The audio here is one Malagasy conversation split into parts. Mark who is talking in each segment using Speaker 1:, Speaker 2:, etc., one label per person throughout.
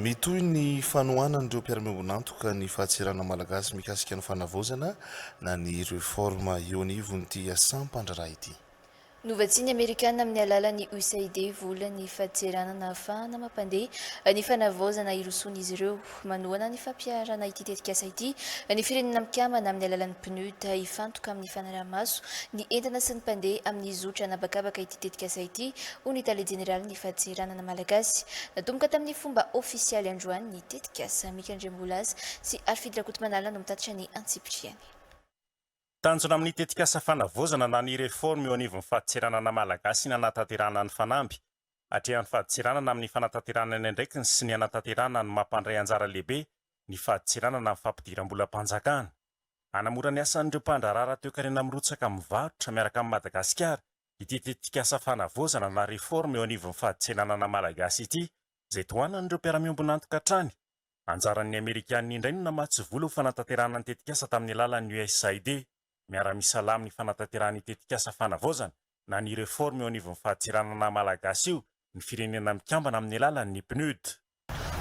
Speaker 1: Mitohy ny fanohanan'ireo mpiara-miombon'antoka ny fahatserana malagasy mikasika ny fanavaozana na ny reforme eo anivon'ity sampam-pandraharaha ity. Novatsian'ny
Speaker 2: Amerikana amin'ny alalan'ny USAID vola ny fahatserana nahafahana mampandeha ny fanavaozana hirosoan'izy ireo. Manohana ny fampiharana ity tetikasa ity ny Firenena Mikambana amin'ny alalan'ny PNUD hifantoka amin'ny fanaraha-maso ny entana sy ny mpandeha amin'ny zotra an'habakabaka ity tetikasa ity, hoy ny Tale Jeneralin'ny. Fadiranan Malagasy. Natomboka tamin'ny fomba ofisialy androany ny tetikasa. Mika Andriambolaza sy Harifidy Rakotomanala no mitatitra ny antsipiriany.
Speaker 3: Tanjona amin'ny tetikasa fanavaozana na ny réforme eo anivon'ny faditseranana Malagasy ny hanatanterahana ny fanamby atrehan'ny faditseranana amin'ny fanatanterahana ny andraikiny sy ny hanatanterahana ny maha mpandray anjara lehibe ny faditseranana amin'ny fampidiram-bolam-panjakana hanamora ny asan'ireo mpandraharaha ara-toekarena mirotsaka mivarotra miaraka amin'i Madagasikara ity tetikasa fanavaozana na réforme eo anivon'ny fadintsenanana malagasy ity izay tohanan'ireo mpiara-miombon'antoka hatrany. Anjaran'ny amerikanina indray no namatsy vola ho fanatanterahana ny tetikasa tamin'ny alalan'ny USAID. Miara-misalahy amin'ny fanatanterahana io tetikasa fanavaozana na ny réforme eo anivon'ny fadintsenanana malagasy io ny Firenena Mikambana amin'ny alalan'ny PNUD.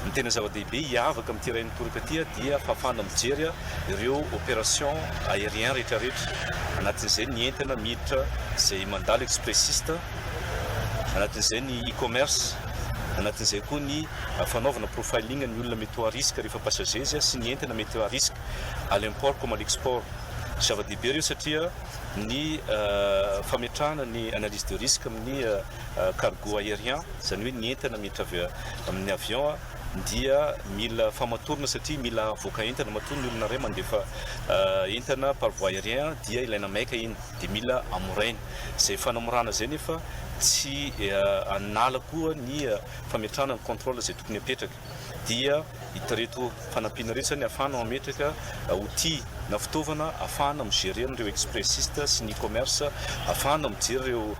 Speaker 3: Ny tena
Speaker 4: zava-dehibe hiavaka amin'ity iray mitoraka ity dia fahafahana mijery ireo opération aérien rehetrarehetra, anatin'izay ny entana miditra izay mandalo expressiste, anatin'izay ny e-commerce, anatin'izay koa ny fanaovana profiling ny olona mety ho à risque rehefa passagers sy ny entana mety à risque à l'import comme à l'export. Zava-dehibe ireo satria ny fametrahana ny analyse de risque amin'ny cargo aérien, izany hoe ny entana miditra avy amin'ny avion dia mila famatorana satria mila avoaka entana, matoa ny olona iray mandefa entana par voie aérien dia ilaina maika iny dia mila amoraina, izay fanamorana izay nefa tsy hanala koa ny fametrahana ny contrôle izay tokony hapetraka. dia ireto fanampiana ireto izany ahafahana mametraka outil na fitaovana ahafahana mi-gerer an'ireo expressiste sy ny e-commerce, ahafahana mijery ireo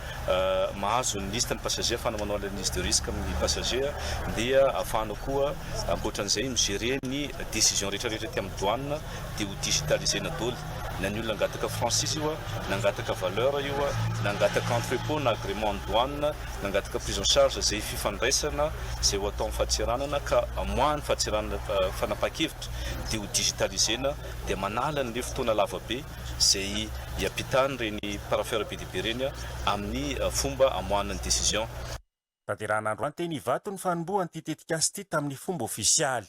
Speaker 4: mahazo ny liste ny passager, ahafahana manao analyse de risque amin'ny passager, dia ahafahana koa ankoatra an'izay mi-gerer ny decision rehetrarehetra aty amin'ny douane, dia ho digitaliser-na doly na ny olona hangataka franchise io na hangataka valeur io na hangataka entrepot na agrément an'ny douane, Nangataka prise en charge izay fifandraisana izay ho atao amin'ny fahatseranana ka amoahany fahatseranana fanapahan-kevitra dia ho digitaliser-na dia manala an'ireny fotoana lavabe izay hiampitany ireny parapheur be dia be ireny amin'ny fomba amoahana ny décision.
Speaker 3: Tanterahina andro
Speaker 4: anteny
Speaker 3: Ivato ny fanombohan'ity tetikasa ity
Speaker 4: tamin'ny
Speaker 3: fomba ofisialy.